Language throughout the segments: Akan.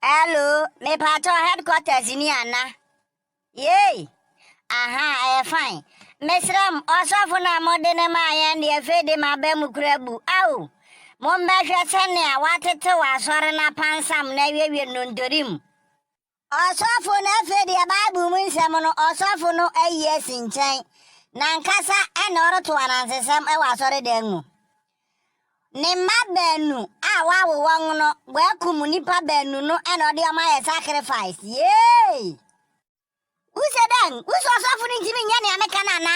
Hello, mepaatɔ headquarters ni ana? Yei, aha, ɛyɛ fine. Mesrɛ m, ɔsɔfo no a mode no maa yɛn deɛ afei de m'aba mu kura bu. Ao, mommɛhwɛ sɛnea wɔatetew asɔre no apansam na awiewie nnontori mu. Ɔsɔfo no, afei deɛ Bible mu nsɛm no, ɔsɔfo no ayi asi nkyɛn. N'ankasa na ɔreto anansesɛm wɔ asɔredan mu. Ne mma baanu a wawo wɔn no, wɔakum nnipa baanu no na ɔde wɔn ayɛ sacrifice. Yay! Wuse dɛn? Wuse ɔsɔfo no ntumi nyɛ nea meka no ana?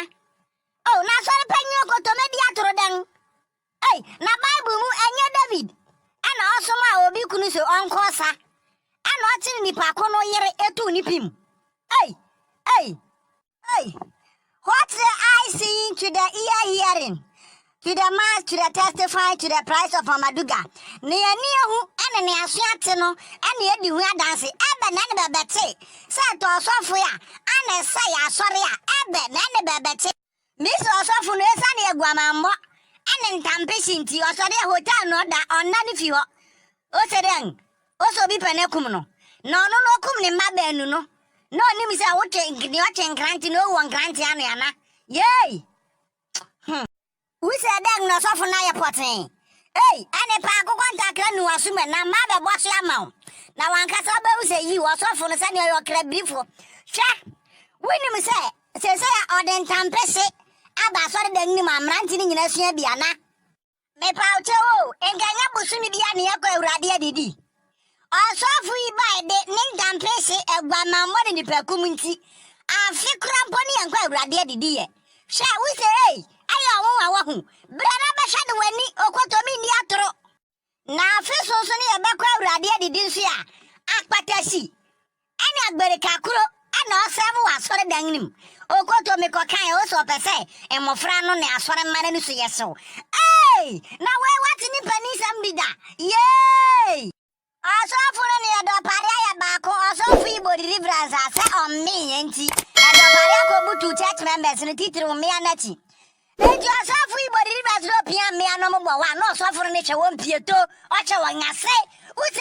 Oh, na asɔre panyin okotome di atoro dɛn? Ei, na Bible mu ɛnyɛ David ɛna ɔsom a obi kunu so ɔnkɔ ɔsa ɛna ɔkyere nipa ko no yere etu ne pim. Ei, ei, Hey! What the eye seeing to the ear hearing, to the mouth to the testifying to the price of Amaduga. Ne ani ehu ne ne aso ate no na edi ho adanse. Ɛbɛ na ne bɛbɛte sɛ ɛtɔ ɔsɔfo a ana ɛsɛe asɔre a, ɛbɛ na ne bɛbɛte. Misri ɔsɔfo no, esiane aguamammɔ ne ntampehye nti, ɔsɔre a hotel na ɔda, ɔnna ne fi hɔ. Ose dɛn? Ose obi pɛ no akum no, na ɔno na okum ne mma baanu no, na onim sɛ wotwe nea ɔtwe nkrante na owu wɔ nkrante ano ana? Yei! Hum! Wose dɛn na ɔsɔfo no ayɛ pɔtee? Ei, ɛne paa, akokɔ ntakra nu w'aso mu na mmaa bɛbɔ so ama wo, na w'ankasa wubehu sɛ yiw, ɔsɔfo no, sɛnea ɔyɛ ɔkrabirifo. Hwɛ! Wunim sɛ seesei ɔde ntampehye aba asɔredan no mu a mmerante no nyinaa sua bi ana? Mepawkyɛw o, nka nyɛ bosome bi a na yɛkɔ Awurade adidi. Ɔsɔfo yi bae de ne ntampese, aguamammɔ ne nipakum nti, afe kora mpo ne yɛnkɔ Awurade adidi yɛ. Hwɛ, wo se ei, ayɛ ɔnwonwa wahu, bra na bɛhwɛ de w'ani, okotomi nni atoro. Na afe so nso ne yɛbɛkɔ Awurade adidi nso a, akpata si. Ɛne Agberika koro na ɔsɛɛvo wɔ asɔredan no mu. Okoto me kɔ kan ose ɔpɛ sɛ mmofra no ne asɔre mma no nusu yɛ hyew. Eei! Na wei wate ne paninsɛm bi da? Yeeii! Ɔsɔfo no ne Ɛdɔpare ayɛ baako ɔsɔfo yi bɔ deliverance a sɛ ɔmmee yɛn nti Ɛdɔpare akɔbutuw church members no titiriw mmea no akyi. Enti ɔsɔfo yi bɔ deliverance na opia mmea no ɔmo bɔ one na ɔsɔfo no ne hwɛ wɔn pie to ɔhyɛ wɔn ase ose,